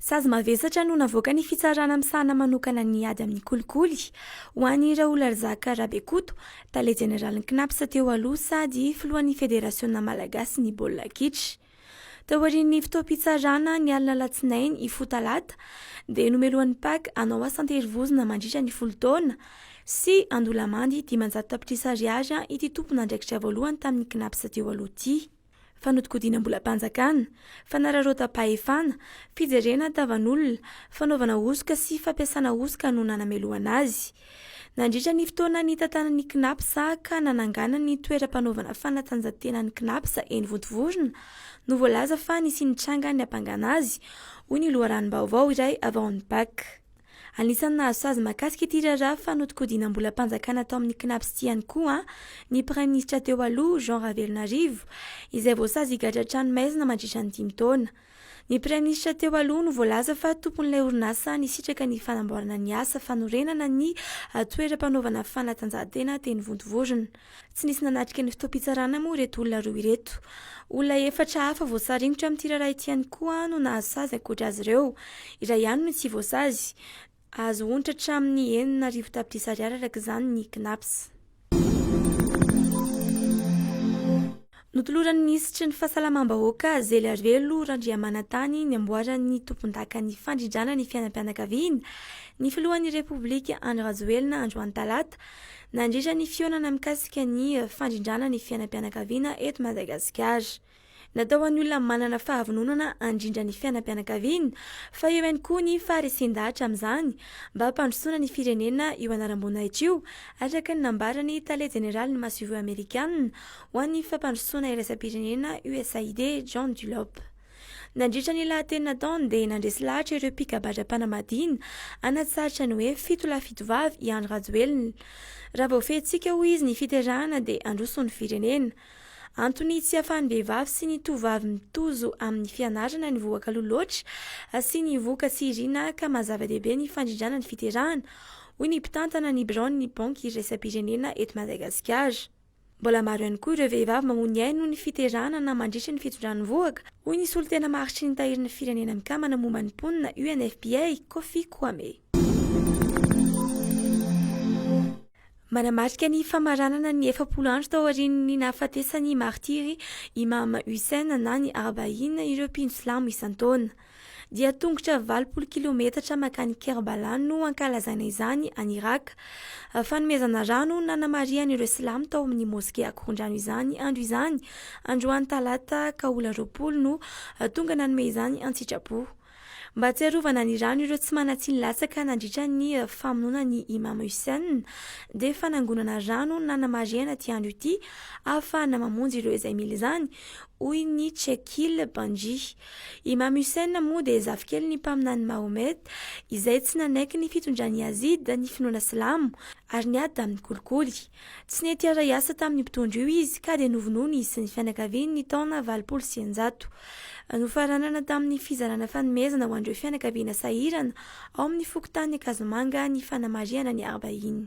Sazy mavesatra no navoaka ny fitsarana misahana manokana ny ady amin'ny kolikoly ho an'i Raoularzaka Rabekoto, tale jeneralin'ny Cnaps teo aloha sady filohan'ny Federasiona malagasin'ny baolina kitra. Taorian'ny fotoam-pitsarana ny alina alatsinainy hifoha talata dia nomelohan'ny pac hanao asa an-terivozona mandritra ny folo taona sy handoa lamandy dimanjato tapitrisa ariary ity tompon'andraikitra voalohany tamin'ny Cnaps teo aloha ity. fanodinkodinam-bolam-panjakana, fanararaotam-pahefana, fijerena tavan'olona, fanaovana hosoka sy fampiasana hosoka no nanamelohana azy. Nandritra ny fotoana nitantanan'ny Cnaps ka nanangana ny toeram-panaovana fanatanjahan-tenan'ny Cnaps eny Vontovorona no voalaza fa nisy nitranga niampangana azy, hoy ny loharanom-baovao iray avy ao amin'ny Pac. Anisan'ny nahasazy mahakasika ity raharaha fanodinkodinam-bolam-panjakana tao amin'ny Cnaps ity ihany koa ny praiminisitra teo aloha, Jean Ravelonarivo, izay voasazy higadra an-tranomaizina mandritra ny dimy taona. Ny praiminisitra teo aloha no voalaza fa tompon'ilay orinasa nisitraka ny fanamboarana ny asa fanorenana ny toeram-panaovana fanatanjahantena teny Vontovorona. Tsy nisy nanatrika ny fotoam-pitsarana moa ireto olona roa ireto. Olona efatra hafa voasaringotra amin'ity raharaha ity ihany koa no nahazo sazy ankoatra azy ireo. Iray ihany no tsy voasazy. Azo onitra hatramin'ny enina arivo tapitrisa ariary araka izany ny Cnaps. Notoloran'ny minisitry ny Fahasalamam-bahoaka, Zeliarivelo Randriamanantany ny amboaran'ny tompondakan'ny fandrindrana ny fiainam-pianakaviana, ny filohan'ny Repoblika Andry Rajoelina androany talata. Nandritra ny fihaonana mikasika ny fandrindrana ny fiainam-pianakaviana eto Madagasikara. Natao ho an'ny olona manana fahavononana handrindra ny fiainam-pianakaviana fa eo ihany koa ny faharesen-dahatra amin'izany mba hampandrosoana ny firenena io anaram-boninahitra io, araka ny nambaran'ny tale jeneralin'ny masoivoho amerikanina ho an'ny fampandrosoana iraisam-pirenena, USAID, John Dulop. Nandritra ny lahateny nataony dia nandresy lahatra ireo mpikabadra-panambadiana hanatsaritra ny hoe fito lahy fito vavy i Andry Rajoelina. Raha voafehintsika hoy izy ny fiterahana dia handroso ny firenena. Antony tsy ahafahan'ny vehivavy sy ny tovovavy mitozo amin'ny fianarana ny vohakaloha loatra asiany vohoka sy irina ka maha zava-dehibe ny fandrindrana ny fiterahana, hoy ny mpitantana ny biraon'ny Banky iraisam-pirenena eto Madagasikara. Mbola maro ihany koa ireo vehivavy mamoa ny ainy noho ny fiterahana na mandritry ny fitondran'ny vohoka, hoy ny solontena maharitry ny Tahirin'ny Firenena Mikambana momba ny Mponina, UNFPA, Kofi Kwame. Manamarika ny famaranana ny efapolo andro taorian'ny nahafatesan'ny martiry Imam Hussein na ny Arba'in ireo mpino silamo isan-taona. dia tongotra valopolo kilometatra makany Kerbala no ankalazana izany any Iraka. Fanomezana rano nanamarihan' ireo silamo tao amin'ny moske akorondrano izany andro izany. Androany talata kaola roapolo no tonga nanome izany antsitrapo. Mba tsy arovana ny rano ireo tsy manatsiny latsaka nandritra ny famonoana ny Imam Hussein dia fanangonana rano nanamarihan' ity andro ity ahafahana mamonjy ireo izay mila izany, hoy ny Chekil Banji. Imam Hussein moa dia zafikelin'ny Mpaminany Mahomet, izay tsy nanaiky ny fitondran'i Yazid ny finoana silamo, ary niady tamin'ny kolikoly. Tsy nety hiara-hiasa tamin'io mpitondra io izy, ka dia novonoiny izy sy ny fianakaviany ny taona valopolo sy eninjato. Nofaranana tamin'ny fizarana fanomezana ho an'ireo fianakaviana sahirana ao amin'ny fokontany Ankazomanga ny fanamarihana ny Arbaïn.